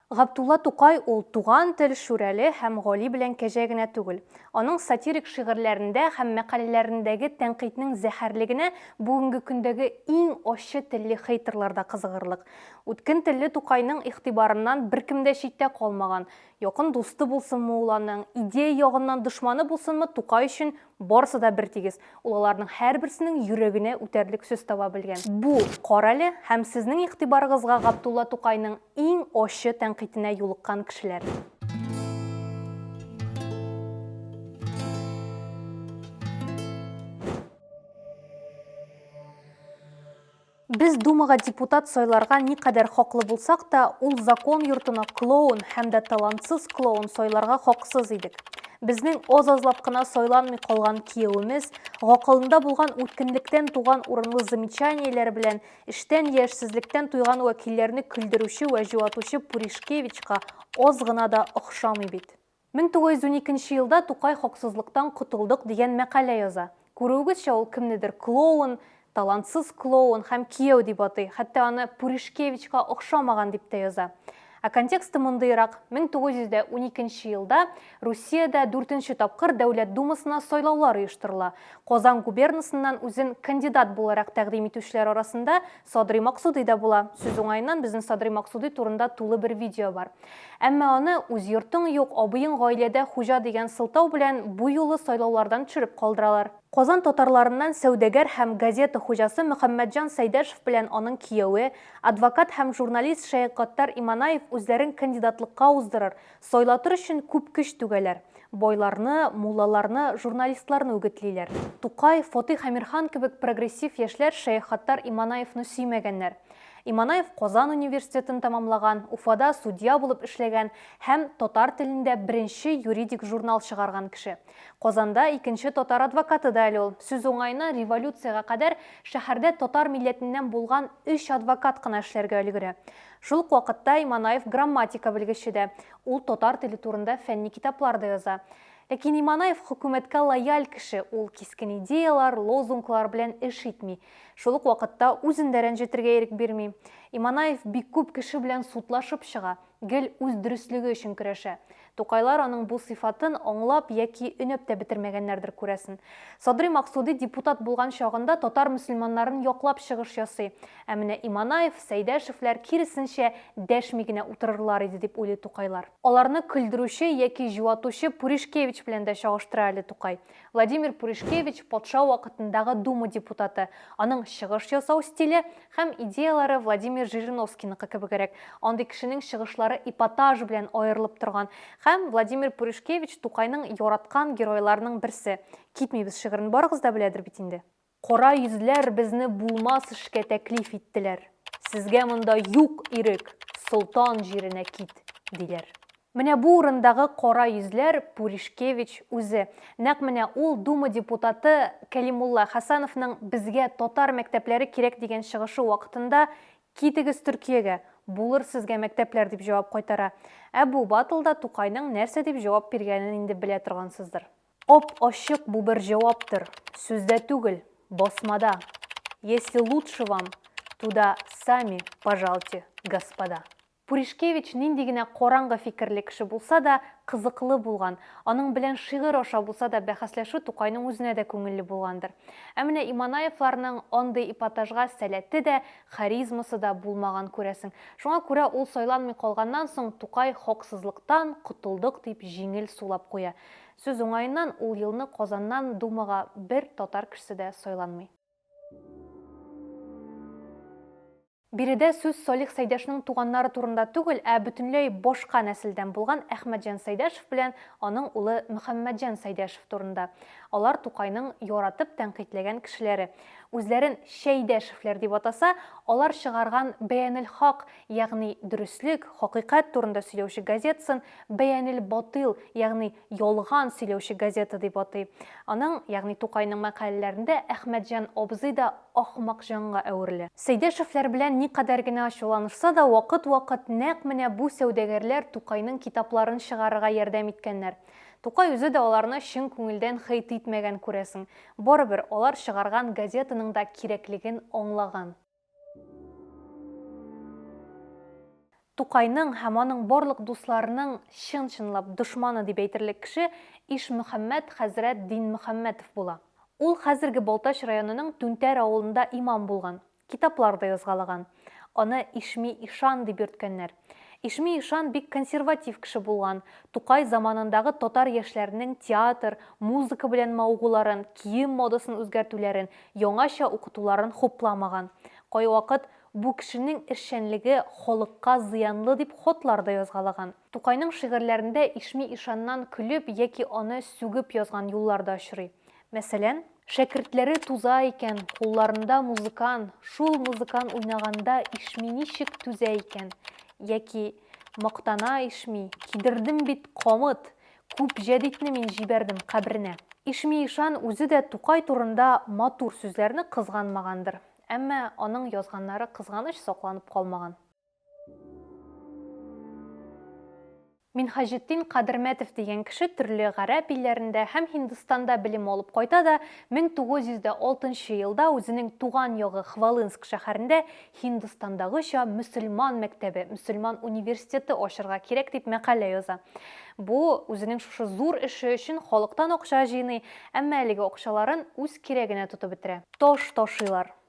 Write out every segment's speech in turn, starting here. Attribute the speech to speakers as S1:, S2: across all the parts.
S1: Габдулла Тукай ул Туган тел, Шүрәле һәм Гали белән Кәҗә генә түгел. Аның сатирик шигырьләрендә һәм мәкаләләрендәге тәнкыйтьнең зәһәрлегенә бүгенге көндәге иң ачы телле хейтерлар да кызыгырлык. Үткен телле Тукайның игътибарыннан беркем дә читтә калмаган. Якын дусты булсынмы ул аның, идея ягыннан дошманы булсынмы, Тукай өчен Барысы да бертигез, ул аларның һәрберсенең йөрәгенә үтәрлек сүз таба белгән. Бу, карале, һәм сезнең игътибарыгызга Габдулла Тукайның иң ачы тәнкыйтенә юлыккан кешеләр. Без Думага депутат сайларга никадәр хаклы булсак та, ул закон йортына клоун һәм дә талантсыз клоун сайларга хаксыз идек. Безнең аз-азлап кына сайланмый калган киявемез, гакылында булган үткенлектән туган урынлы замечаниеләре белән эштән яшьсезлектән туйган вәкилләрне көлдерүче вә җуатучы Пуришкевичка аз гына да охшамый бит. 1912 нче елда Тукай Хаксызлыктан котылдык дигән мәкалә яза. Күрүегезчә, ул кемнедер клоун, талантсыз клоун һәм кияү дип атый, хәтта аны Пуришкевичка охшамаган дип тә яза. Ә контексты мондыйрак, 1912 нче елда Русиядә дүртенче тапкыр Дәүләт Думасына сайлаулар оештырыла. Казан губернасыннан үзен кандидат буларак тәкъдим итүчеләр арасында Садри Максуди дә була. Сүз уңаеннан, безнең Садри Максуди турында тулы бер видео бар. Әмма аны үз йортың юк, абыең гаиләдә хуҗа дигән сылтау белән бу юлы сайлаулардан төшереп калдыралар. Казан татарларыннан сәүдәгәр һәм газета хуҗасы Мөхәммәтҗан Сәйдәшев белән аның кияве, адвокат һәм журналист Шәек Гаттар Иманаев үзләрен кандидатлыкка уздырыр, Сайлатыр өчен күп көч түгәләр. Байларны, муллаларны, журналистларны үгетлиләр. Тукай, Фатыйх Әмирхан кебек прогрессив яшьләр Шәех Хаттар Иманаевны сөймәгәннәр. Иманаев Казан университетын тәмамлаган, Уфада судья булып эшләгән һәм татар телендә беренче юридик журнал чыгарган кеше. Казанда икенче татар адвокаты да әле ул. Сүз уңаена, революциягә кадәр шәһәрдә татар милләтеннән булган өч адвокат кына эшләргә өлгерә. Шул ук вакытта Иманаев грамматика белгече дә, ул татар теле турында фәнни китаплар да яза. Ләкин Иманаев хөкүмәткә лояль кеше, ул кискен идеялар, лозунглар белән эш итми. Шул ук вакытта үзен дә рәнҗетергә ирек бирми. Иманаев бик күп кеше белән судлашып чыга, гел үз дөреслеге өчен көрәшә. Тукайлар аның бу сыйфатын аңлап яки өнәп тә бетермәгәннәрдер, күрәсен. Садри Максуди депутат булган чагында татар мөселманнарын яклап чыгыш ясый. Ә менә Иманаев, Сәйдәшевләр, киресенчә, дәшми генә утырырлар иде, дип уйлый Тукайлар. Аларны көлдерүче яки җуатучы Пуришкевич белән дә чагыштыра әле Тукай. Владимир Пуришкевич патша вакытындагы Дума депутаты. Аның чыгыш ясау стиле һәм идеяләре Владимир Жириновскийныкы кебегрәк. Андый кешенең чыгышлары эпатаж белән аерылып торган. Һәм Владимир Пуришкевич Тукайның яраткан геройларының берсе. Китмибез шигырен барыгыз да беләдер бит инде. Кара йөзләр безне булмас эшкә тәклиф иттеләр. Сезгә монда юк ирек, солтан җиренә кит, диләр. Менә бу урындагы кара йөзләр Пуришкевич үзе. Нәкъ менә ул Дума депутаты Кәлимулла Хәсәновның безгә татар мәктәпләре кирәк дигән чыгышы вакытында Китегез Төркиягә, булыр сезгә мәктәпләр дип җавап кайтара. Ә бу батлда Тукайның нәрсә дип җавап биргәнен инде белә торгансыздыр. Ап-ачык бу бер җаваптыр, сүздә түгел, басмада. Если лучше вам, туда сами пожалте, господа. Пуришкевич нинди генә караңгы фикерле кеше булса да, кызыклы булган. Аның белән шигырь аша булса да бәхәсләшү Тукайның үзенә дә күңелле булгандыр. Ә менә Иманаевларның андый эпатажга сәләте дә, харизмасы да булмаган, күрәсең. Шуңа күрә ул сайланмый калганнан соң Тукай хаксызлыктан котылдык дип җиңел сулап куя. Сүз уңаеннан, ул елны Казаннан Думага бер татар кешесе дә сайланмый. Биредә сүз Салих Сәйдәшнең туганнары турында түгел, ә бөтенләй башка нәселдән булган Әхмәтҗан Сәйдәшев белән аның улы Мөхәммәтҗан Сәйдәшев турында. Алар Тукайның яратып тәнкыйтьләгән кешеләре. Үзләрен Чәйдәшевләр дип атаса, алар чыгарган Бәянел-Хак Ягъни дөреслек, хакыйкать турында сөйләүче газетасын Бәянел батыйл, ягъни ялган сөйләүче газета дип атый. Аның, ягъни Тукайның мәкаләләрендә Әхмәтҗан абзый да ахмакҗанга әверелә. Сәйдәшевләр белән никадәр генә ачуланышса да, вакыт-вакыт нәкъ менә бу сәүдәгәрләр Тукайның китапларын чыгарырга ярдәм иткәннәр. Тукай үзе дә аларны чын күңелдән хейть итмәгән, күрәсең. Барыбер, алар чыгарган газетаның да кирәклеген аңлаган. Тукайның һәм аның барлык дусларының чын-чынлап дошманы дип әйтерлек кеше Ишмөхәммәт хәзрәт Динмөхәммәтов була. Ул хәзерге Балтач районының Түнтәр авылында имам булган, китаплар да язгалаган. Аны Ишми ишан дип йөрткәннәр. Ишми ишан бик консерватив кеше булган, Тукай заманындагы татар яшьләренең театр, музыка белән мавыгуларын, кием модасын үзгәртүләрен, яңача укытуларын хупламаган. Кайвакыт бу кешенең эшчәнлеге халыкка зыянлы дип хатлар да язгалаган. Тукайның шигырьләрендә Ишми ишаннан көлеп яки аны сүгеп язган юллар да очрый. Мәсәлән. Шәкертләре туза икән, кулларында музыкан, шул музыкан уйнаганда ишми ничек түзә икән? Яки, мактана ишми, кидердем бит, камыт! Күп җәдитне мин җибәрдем кабренә. Ишми ишан үзе дә Тукай турында матур сүзләрне кызганмагандыр. Әмма аның язганнары кызганыч сакланып калмаган. Минһаҗетдин Кадермәтов дигән кеше төрле гарәп илләрендә һәм Һиндстанда белем алып кайта да 1906 елда үзенең туган ягы Хвалынск шәһәрендә Һиндстандагыча мөселман мәктәбе, мөселман университеты ачырга кирәк дип мәкалә яза. Бу үзенең шушы зур эше өчен халыктан акча җыйный, әмма әлеге акчаларын үз кирәгенә тотып бетерә. Таш ташыйлар.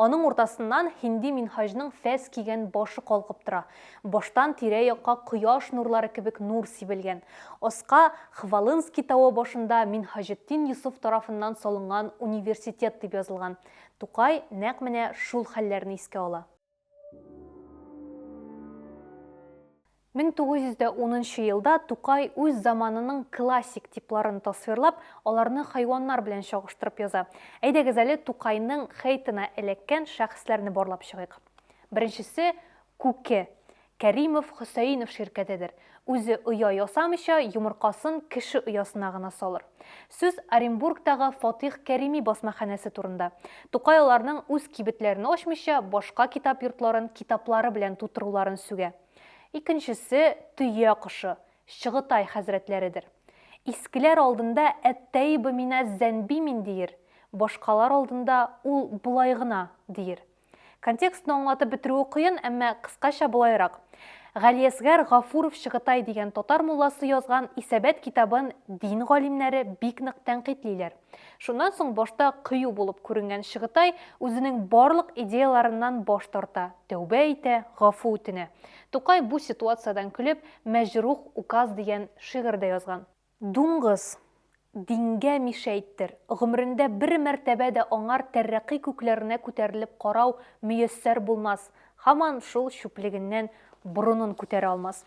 S1: Аның уртасыннан һинди минһаҗның фәс кигән башы калкып тора. Баштан тирә-якка кояш нурлары кебек нур сибелгән. Аска Хвалынский тавы башында Минһаҗетдин Йосыф тарафыннан салынган университет дип язылган. Тукай нәкъ менә шул хәлләрне искә ала. 1910 нчы елда Тукай үз заманының классик типларын тасвирлап, аларны хайваннар белән чагыштырып яза. Әйдәгез әле Тукайның хейтына эләккән шәхесләрне барлап чыгыйк. Беренчесе, Күке. Кәримов, Хөсәенов ширкәтедер. Үзе оя ясамыйча, йомыркасын кеше оясына гына салыр. Сүз Оренбургтагы Фатих Кәрими басмаханәсе турында. Тукай аларның үз кибетләрен ачмыйча, башка китап йортларын китаплары белән тутыруларын сүгә. Икенчесе, төя кошы, Чыгытай хәзрәтләредер. Искеләр алдында әттәиба мина зәнби мин диер, башкалар алдында ул болай гына диер. Контекстны аңлатып бетерүе кыен, әмма кыскача болайрак. Галиәсгар Гафуров Чыгытай дигән татар мулласы язган Исәбәт китабын дин галимнәре бик нык тәнкыйтьлиләр. Шуннан соң башта кыю булып күренгән Чыгытай үзенең барлык идеяларыннан баш тарта, тәүбә итә, гафу үтенә. Тукай бу ситуациядән көлеп, Мәҗрух указ дигән шигырь дә язган. Дуңгыз, дингә мишәйттер, гомерендә бер мәртәбә дә аңар тәррәкый күкләренә күтәрелеп карау мөяссәр булмас, Һаман шул чүплегеннән борынын күтәрә алмас.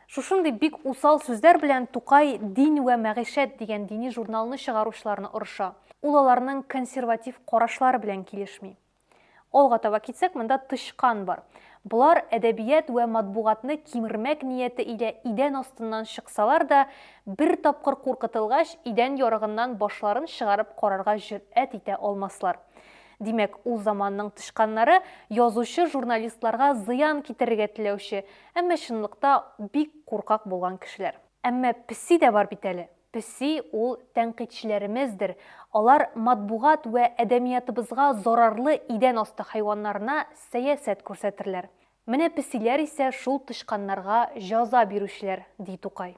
S1: Шушындый бик усал сүзләр белән Тукай Дин вә мәгыйшәт дигән дини журналны чыгаручыларны орыша. Ул аларның консерватив карашлары белән килешми. Алга таба китсәк, монда тычкан бар. Болар әдәбият вә матбугатны кимермәк нияте илә идән астыннан чыксалар да, бер тапкыр куркытылгач, идән ярыгыннан башларын чыгарып карарга җөрьәт итә алмаслар. Димәк, ул заманның тычканнары язучы-журналистларга зыян китерергә теләүче, әмма чынлыкта бик куркак булган кешеләр. Әмма песи дә бар бит әле. Песи, ул тәнкыйтьчеләремездер. Алар матбугат вә әдәмиятыбызга зарарлы идән асты хайваннарына сәясәт күрсәтерләр. Менә песиләр исә шул тычканнарга җаза бирүчеләр, ди Тукай.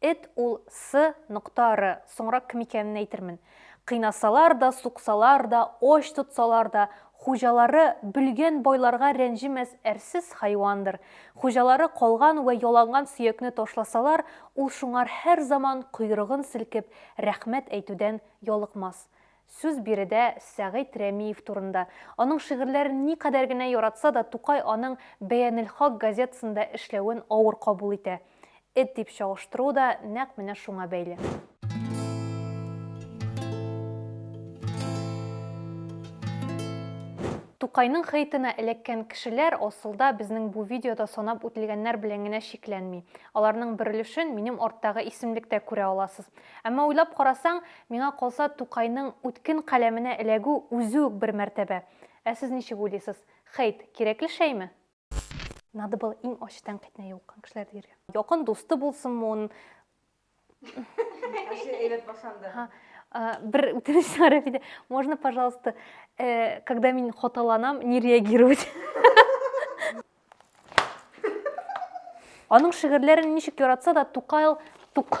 S1: Эт ул сы нокта ры, соңрак кем икәнен әйтермен. Кыйнасалар да, суксалар да, ач тотсалар да, хуҗалары бөлгән байларга рәнҗемәс әрсез хайвандыр. Хуҗалары калган вә яланган сөякне ташласалар, ул шуңар һәрзаман койрыгын селкеп, рәхмәт әйтүдән ялыкмас. Сүз биредә Сәгыйть Рәмиев турында. Аның шигырьләрен никадәр генә яратса да, Тукай аның Бәянелхак газетасында эшләвен авыр кабул итә. Эт дип чагыштыруы да нәкъ менә шуңа бәйле. Тукайның хейтына эләккән кешеләр, асылда, безнең бу видеода санап үтелгәннәр белән генә чикләнми. Аларның бер өлешен минем арттагы исемлектә күрә аласыз. Әмма уйлап карасаң, Миңа калса, Тукайның үткен каләменә эләгү үзе үк бер мәртәбә. Ә сез ничек уйлыйсыз? Хейт, кирәкле шәйме? Надо было иң ачы тәнкыйтьне юлыккан кешеләр дияргә. Якын дусты булсынмы ун. Ачы
S2: әйбәт башланды. Бер
S1: үтенеч сиңа, Рәфидә. Можно, пожалуйста, когда мин хаталанам, не реагировать. Аның шигырьләрен ничек яратса да Тукайл тук